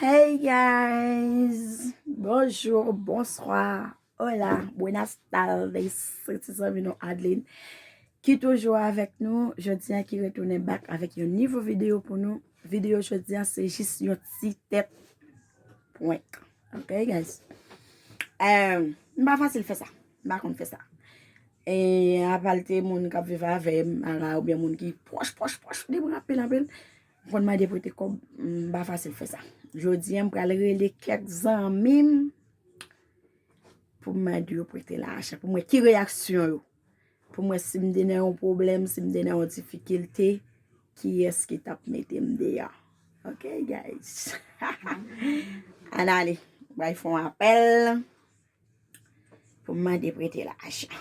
Hey guys, bonjour, bonsoir, hola, buenas tardes, se ti zanmi nou Adeline ki toujou avèk nou, jodi an ki retounen bak avèk yon nivo video pou nou. Video jodi a se jis yon ti tèt prank ok guys m pa fasil fè sa m pa konn fè sa e apa l te moun k ap viv avè m ara oubyen moun ki pwòch pwòch pwòch de mwen anpil anpil m konn mande prete kòb m pa fasil fè sa jodi a m pral rele kèk zanmi m pou m mande yo prete lajan pou m wè ki reyaksyon yo. Pou mwen si m te nan yon pwoblèm, si m te nan yon difikilte, kiyès ki t ap mete m deyò? Ok guys! Ann ale, m pral fè yon apèl pou m mande prete lajan.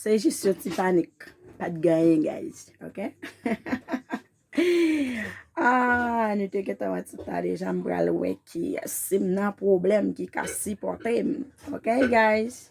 Se jis yon ti panik pat gen anyen guys ok Aah nou te gentan wè ti ta deja m pral wè ki yès si m nan pwoblèm ki ka sipòte m ok guys.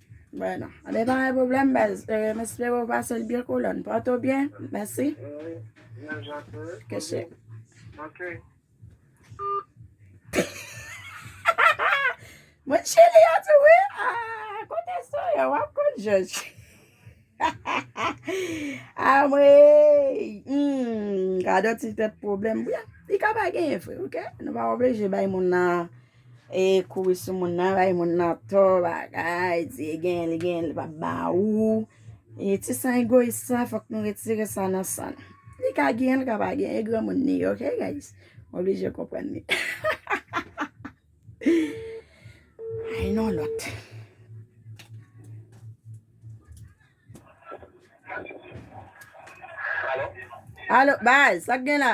Bueno li pa gen problem baz m espere ou pasel byen kolòn pòte w byen mèsi ke chè Moun chili yo tou wi aah kote sou yo wap konn jòj Anmweyy humm gadon ti tèt problem li ka pa genyen vre ok nou pa oblije bay moun nan E kouri sou moun nan bay moun nan tò bagay di e genyen li genyen li pa ba ou e ti san egoyis sa fòk nou retire sa nan san nou li ka genyen li ka pa genyen e granmoun li ye ok guys m oblije konprann li ay non lòt alo baz sak gen la.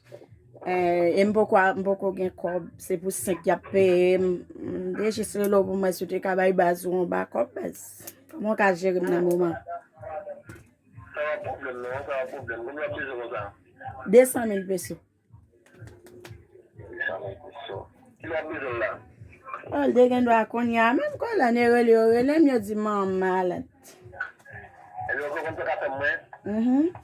E m poko m poko gen kòb, se pou 5 y ap peye m. M te jis rele w pou m wè si w te ka bay baz ou yon bakòp baz. Kòman w ka jere m nan moman an? Sa pa pwoblèm non, sa pa pwoblèm. Konbyen w ap bezwen konsa? 200 mil peso. 200 mil peso. Kilè w ap bezwen l la? O, l te gendwa kounye a menm. Kon lè ne rele yo rele m, yo di m an malad. Ebyen ou poko m te ka fè m mwen? Mh.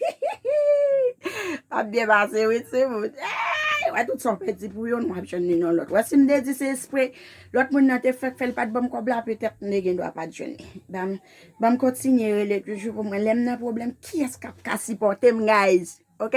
Hihihihi Wap byen pase wi timoun Eeyy wè tout sa w pèdi pou youn wap jwenn li nan lòt Wè si m te di se espre lòt moun nan te fèk fè l pat banm kòb la petèt m te gendwa pat jwenn li Banm banm kontinye rele toujou pou mwen lèm nan pwoblèm kiyès kap ka sipòte m guys ok.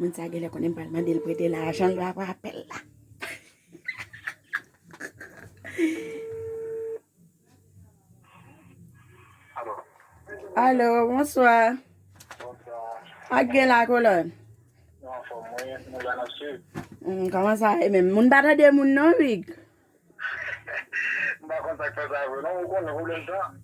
Moun sa genlè konnen m pral mande l prete lajan l apre apèl la. Alo, bonswa. Bonswa. Ak gen la kolon? Nan fòm mwen, mwen la nan sud. Kòman sa e menm? Moun pa tande moun non, Rig. M pa konn sa k fè sa vre non, ou konnen pwoblèm tan.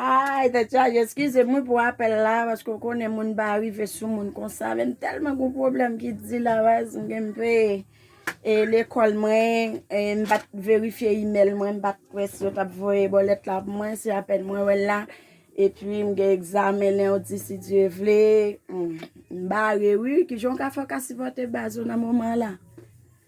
Ayy tèt chaje eskize mwen pou apèl la paske ou konnen moun pa rive sou moun konsa men m tèlman gon pwoblèm ki di la baz m gen mpe e lekòl mwen e m pat verifye imèl mwen m pat kwè si yo tap voye bòlèt la pou mwen se apèn mwen wèl la epi m gen egzamen lendi si Dye vle m bare wi kijan w ka fè w ka sipòte baz ou nan moman la.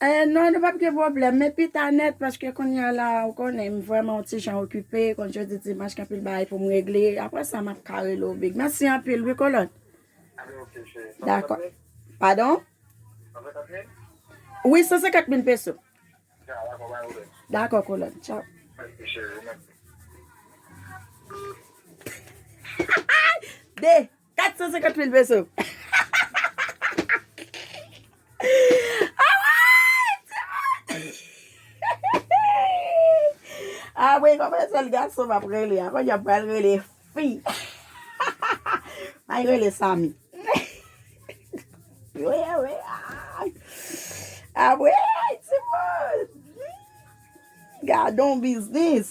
Eeh non nou pap gen pwoblèm men pita nèt paske kounya la ou konnen m vrèman yon ti jan okipe kont jodi dimanch gen anpil bagay pou m regle aprè sa map ka rele w big mèsi anpil wi kolòn Alright ok cheri 150 mil? Padon? 150 mil? Wi 150 mil peso Tcha dakò pa gen pwoblèm Dakò kolòn tchaw. Mèsi cheri ou menm tou. Hahaay 2. 450 mil peso. Apre yon mwen sel gason m ap rele a. Kounye a m pral rele fi. May rele Samy. Wi, wi. Apre, ay ti moun. Gadon biznis.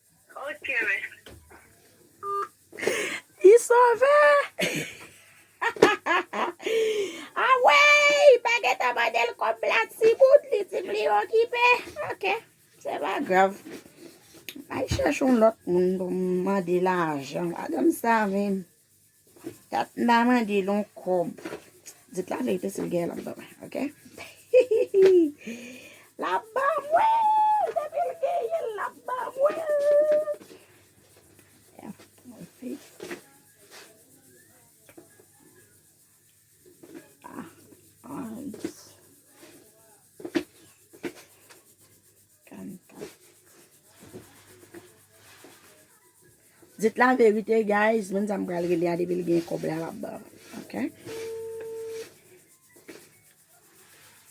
Ok mèsi. Li sove! Aweyy! Pa gentan mande l kòb la timoun, li di m li okipe. Ok, se pa grav. M'al chèche yon lòt moun pou m mande lajan. Madanm sa menm. Kat mta mande l yon kob. Dit la verite sil gen lap banm ok lap banm wi depil genyenl lap banm wi Dit la verite guys, moun sa m pral rele a depi li gen kob la lap banm, ok.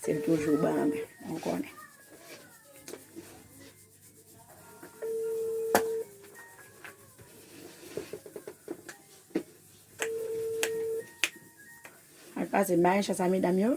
Se l toujou banm, m konnen. Al pase maesha sa medam yo.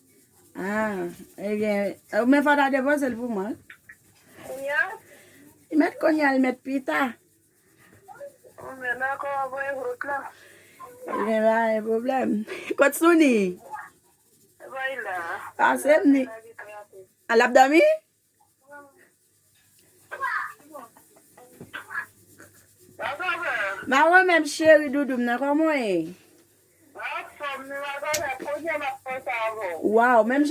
Haa e gen ou men fò ta depozel pou mwen wi. Kounya? Li met kounya li met pita. Ou menm nan kò wap voye hot la. Ou gen la e problem. Kot souni? Ebon li la. Pasem ni. Lap domi? Mwen renmen cheri doudou m nan koman w ye? Waw menm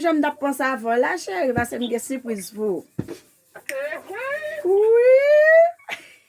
jan m tap panse avè w la cheri paske m gen sipriz pou ou. Wi.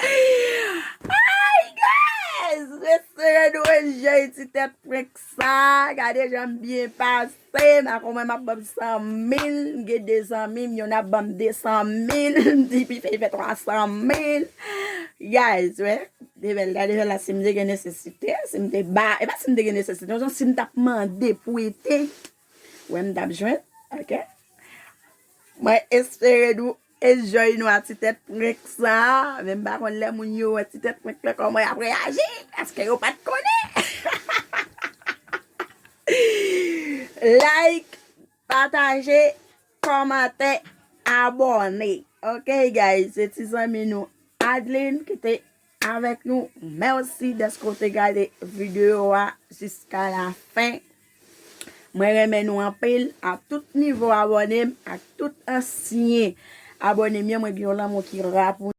Ayy guys resere nou enjoy ti tèt prank sa gade janm byen pase ma konwen map banm 100 mil m gen 2 zanmim yonn ap banm 200 mil m di pi fèy fè 300 mil guys wè de bèl gade fè la sim te gen nesesite sim te ba e pa sim te gen nesesite non sim tap mande pou ete wè m tap jwenn ok mwen espere nou Enjoy nou a ti tèt prank sa men m pa konn lè moun yo wè ti tèt prank lan kòman yap reyaji paske yo pat konnen like pataje kòmante abòne ok guys se ti zanmi nou Adeline ki te Avèk nou mèsi dèske ou te gade video a jiska la fen mwen renmen nou anpil a tout nivo abòne m ak tout ansyen abòne m yo mwen gen yon lanmou ki ra pou